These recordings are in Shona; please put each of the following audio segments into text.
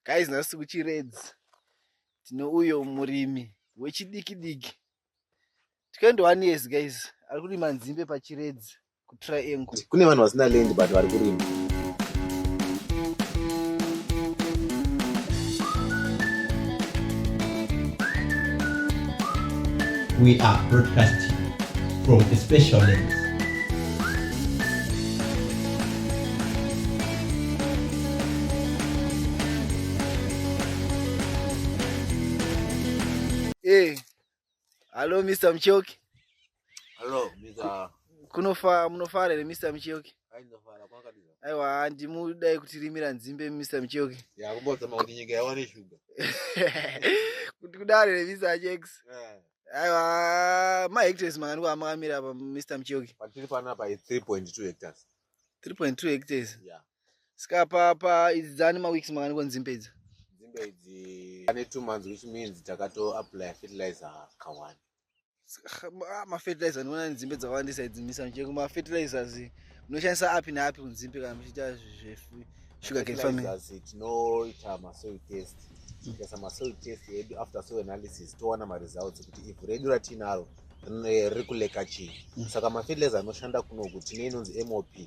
guys nhasi kuchiredzi tine uyo murimi wechidiki diki 21 years guys ari kurima nzimbe pachiredzi kutriangle kune vanhu vasina land but vari kurima We are broadcasting from a special lens. Hey. Hello Mr. Mchoki. Hello Mr. Kunofa munofara here Mr. Mchoki? Ainofara kwakadira. Aiwa handi mudai kutirimira nzimbe Mr. Mchoki. Ya kumbodza makuti nyika yawane sugar. Kuti kudare here Mr. Jex. Yeah. Aiwa ma hectares mangani kwaamamira apa Mr. Mchoki. Patiri pana pa 3.2 hectares. 3.2 hectares yeah. ska pa pa idzi dzani maweeks makani ko nzimbe idzi nzimbe idzi ane two months which means takato apply fertilizer kawani ah, mafertilizer ndinoona nzimbe dzawandisa idzi misanche kumafertilizers munoshandisa api neapi kunzimbe kana muchiita zvesugar cane farming tinoita masoil test tikaisa masoil test edu after soil analysis towana maresults kuti ivhu redu ratinaro riri kuleka chii mm. saka mafiles anoshanda kunoku tine inonzi mop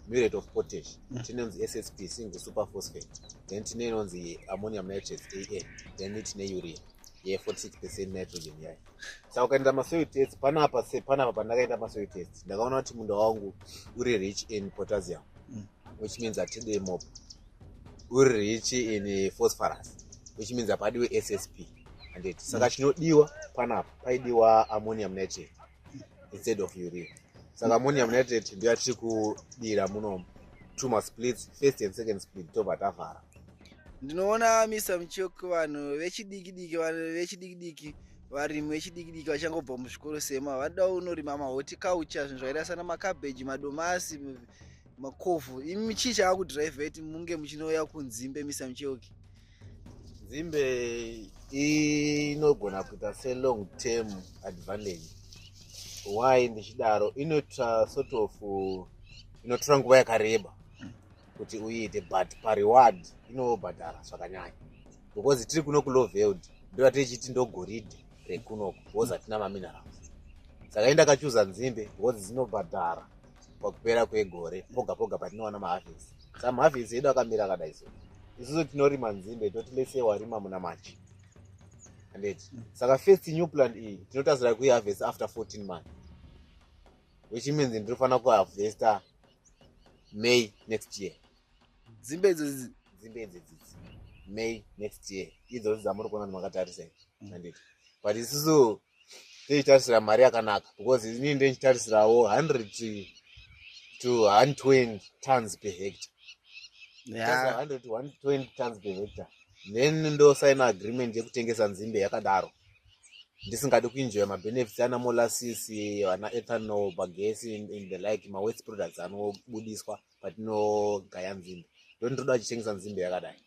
murate of potash mm. tine inonzi ssp single super phosphate then tine inonzi ammonium nitrate an then tine urea ye 46 percent nitrogen yayo saka ukaenda masoil test panapa se panapa pandakaenda masoil test ndakaona kuti munda wangu uri rich in potassium mm. which means atide mop uri rich in phosphorus which means apadiwe ssp handiti saka chinodiwa panapa paidiwa ammonium nitrate instead of urea saka ammonium nitrate ndiyo yatiri kudira muno two masplits first and second split tobva tavhara ndinoona misa muchok vanhu vechidikidiki vanhu vechidikidiki varimi vechidikidiki vachangobva muzvikoro sema vanoda unorima mahoti culture zvinhu zvakaita sana makabeji madomasi makovhu imi chii chakakudriveti munge muchinouya kunzimbe misa mucheuki nzimbe inogona kuita selong term advantage why ndichidaro inoita sort of inotora nguva yakareba kuti uiite but pareward inobhadhara zvakanyanya because tiri kuno kuloveld ndoa tichiti ndogoridhe rekunoku because hatina maminerals saka inda kachuza nzimbe because dzinobhadhara pakupera kwegore poga poga patinowana mahavhisi sa mahavhisi edu akamira akadai so isusu tinorima nzimbe toti lese warima muna machi andeti saka first new plant iyi tinotarisira kuihavhesi after 14 month which means ndinofanira kuhavhesta may next year dzimbe idzodzi dzimbe idzidzidzi may next year idzodzi dzamuri kuona ndimakatarisa andeti but isusu ndochitarisira mari yakanaka because inini ndochitarisirawo 100 to 120 tons per hector yeah. 100 to 120 tons per hector then ndosaina agreement yekutengesa nzimbe yakadaro ndisingadi kuenjoya mabenefits ana molasis ana ethanol bagesi in the like mawest products anobudiswa patinogaya nzimbe ndondoda achitengesa nzimbe yakadai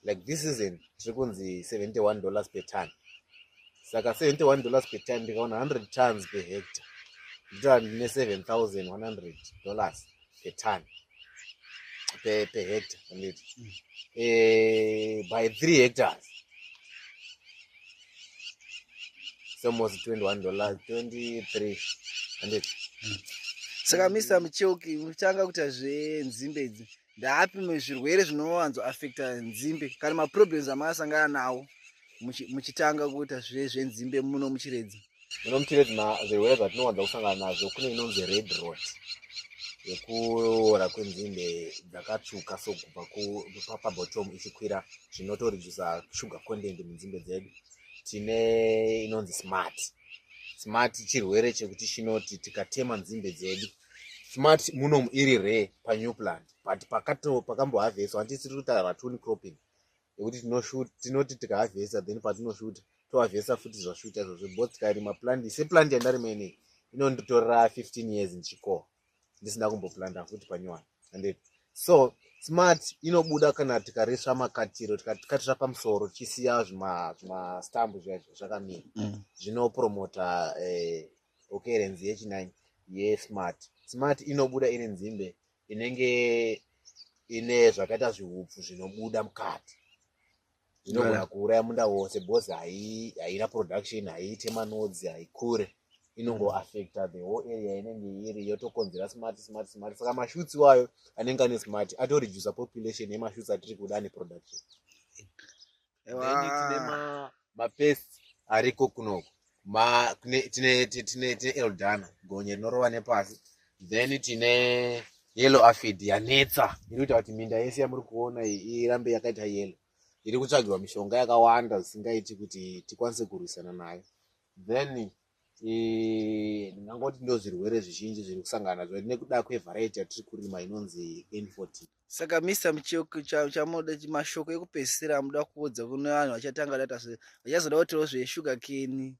like this season tiri kunzi 71 dollars per ton saka 71 dollars per ton ndikaona 100 tons per hector nditova ndine 7100 dollars per ton per, per hector anditi mm. eh, by three hectors almost 21 dollars 23 anditi mm. saka mr mucheuki muchanga kuita zvenzimbe idzi ndaapi zvirwere zvinowanzo affecta nzimbe kana maproblems amakasangana nawo muchitanga kuita zve zvenzimbe muno muchiredzi muno muchiredzi zvirwere zvatinowanza kusangana nazvo kune inonzi red rot yekuora kwenzimbe dzakatsvuka so kubva kupabottom ichikwira zvinotoredusa sugar content munzimbe dzedu tine inonzi smart smart chirwere chekuti chinoti tikatema nzimbe dzedu smart munomu iri re panew plant but pakambohavheswa anti tiri kutaura vatuni cropping yekuti tinoti tikahavhesa then patinoshuta tohavhesa futi zvashuta izvozvo bo tikarima plant seplant yandarima inei inonditorera 15 years ndichiko ndisina kumboplanda futi panyowani and so smart inobuda kana tikarisva makatiro tikatisva pamusoro tichisiya zvimastambu zviya zvakamira mm. zvinopromota eh, okay renzi yechinine yesmart smart inobuda iri nzimbe inenge ine zvakaita zvihupfu zvinobuda mukati inogona kuuraya munda wose bcause haina production haiite manodzi haikure inongoaffecta the whole area inenge iri yotokonzera smart smart smart saka mashutsi wayo anenge ane smart atoredusa population yemashutsi atiri kuda neproduction Ewa. mapest ariko kunoko Ma- kune- tine ti- tine tine eldana gonye rinorova nepasi then tine yellow afid yanetsa iri kuita kuti minda yese yamuri kuona iyi irambe yakaita yellow iri kutsvagirwa mishonga yakawanda zvisingaiti kuti tikwanise kurwisana nayo then eh, ndingangoti ndo zvirwere zvizhinji zviri kusangana nazvo nekuda kwevharaiti yatiri kurima inonzi n14 saka mr mchoko chamoda mashoko ekupedzisira amuda kuudza kune vanhu vachatanga data vachazoda kutiwo zveshuga keni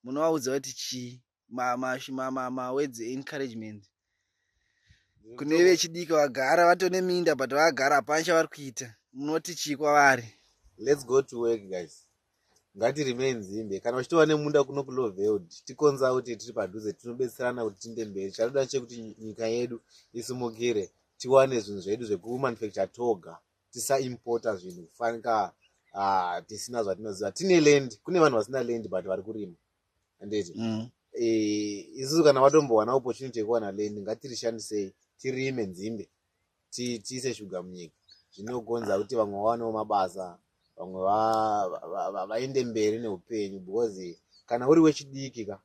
munovaudza kuti chii mawords encouragement kune vechidiki vagara vatone minda but vagara hapana chavari kuita munoti chii kwavari let's go to work guys ngati remain nzimbe kana uchitova nemunda kuno kuloveld tikonza kuti tiri padhuze tinobetserana kuti tinde mberi chatoda chekuti nyika yedu isimukire tiwane zvinhu zvedu zvekumanufacture toga tisaimporta zvinhu kufanika ah, tisina zvatinoziva tine land kune vanhu vasina land but vari kurima anditi mm. eh, isusu kana watombowana opportunity yekuwana land ngatirishandisei tirime nzimbe tiise shuga munyika zvinogonza kuti vamwe vawanewo mabasa vamwe vaende mberi neupenyu because kana uri wechidiki ka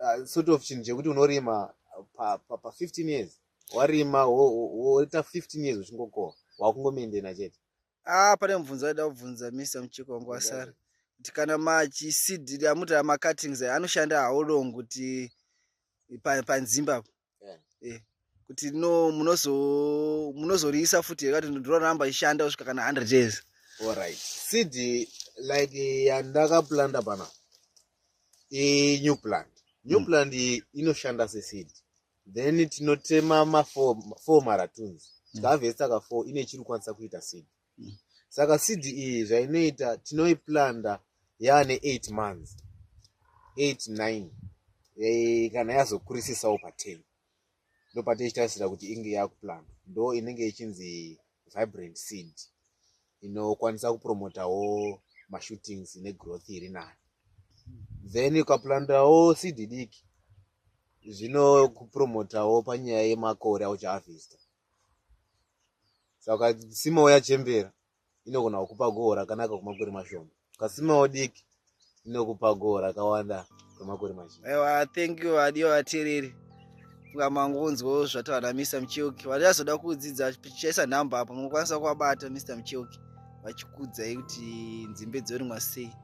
uh, sort of chinhu chekuti unorima pa15 years warima woita 15 years uchingokoha wakungomendena chete ah pane mubvunzo aida kubvunza mr muchiko wangu wasara kuti kana machisid amuti macuttings anoshanda how long kuti panzimba eh, kuti no munozo munozoriisa futi yakati ndoramba ishanda kusvika kana 100 years alright seed like yandakaplanda pana i new plant new hmm. plant inoshanda seseed then tinotema mafour maratuns hmm. tikahavhesa ka four ine chiri kwanisa kuita seed saka seed iyi zvainoita tinoiplanda yaane 8 months 8 9 e, kana yazokurisisawo pa10 ndopatichitarisira kuti inge yakuplanda ndo inenge ichinzi vibrant seed inokwanisa kupromotawo mashootings negrowth iri nani then ukaplandawo seed diki zvinokupromotawo panyaya yemakore auchaavhista saka simawo yachembera inogona kukupa goho rakanaka kwemakore mashoma kasimawo diki inokupa goho rakawanda kwemakore mazhinji ewa thank you adiyo vatereri ngamangonzwo zvataura namr mucheuki vari azoda kudzidza chichaisa nhamba apo mukwanisa kuvabata mr mucheuki vachikudzai kuti nzimbe dzorimwa sei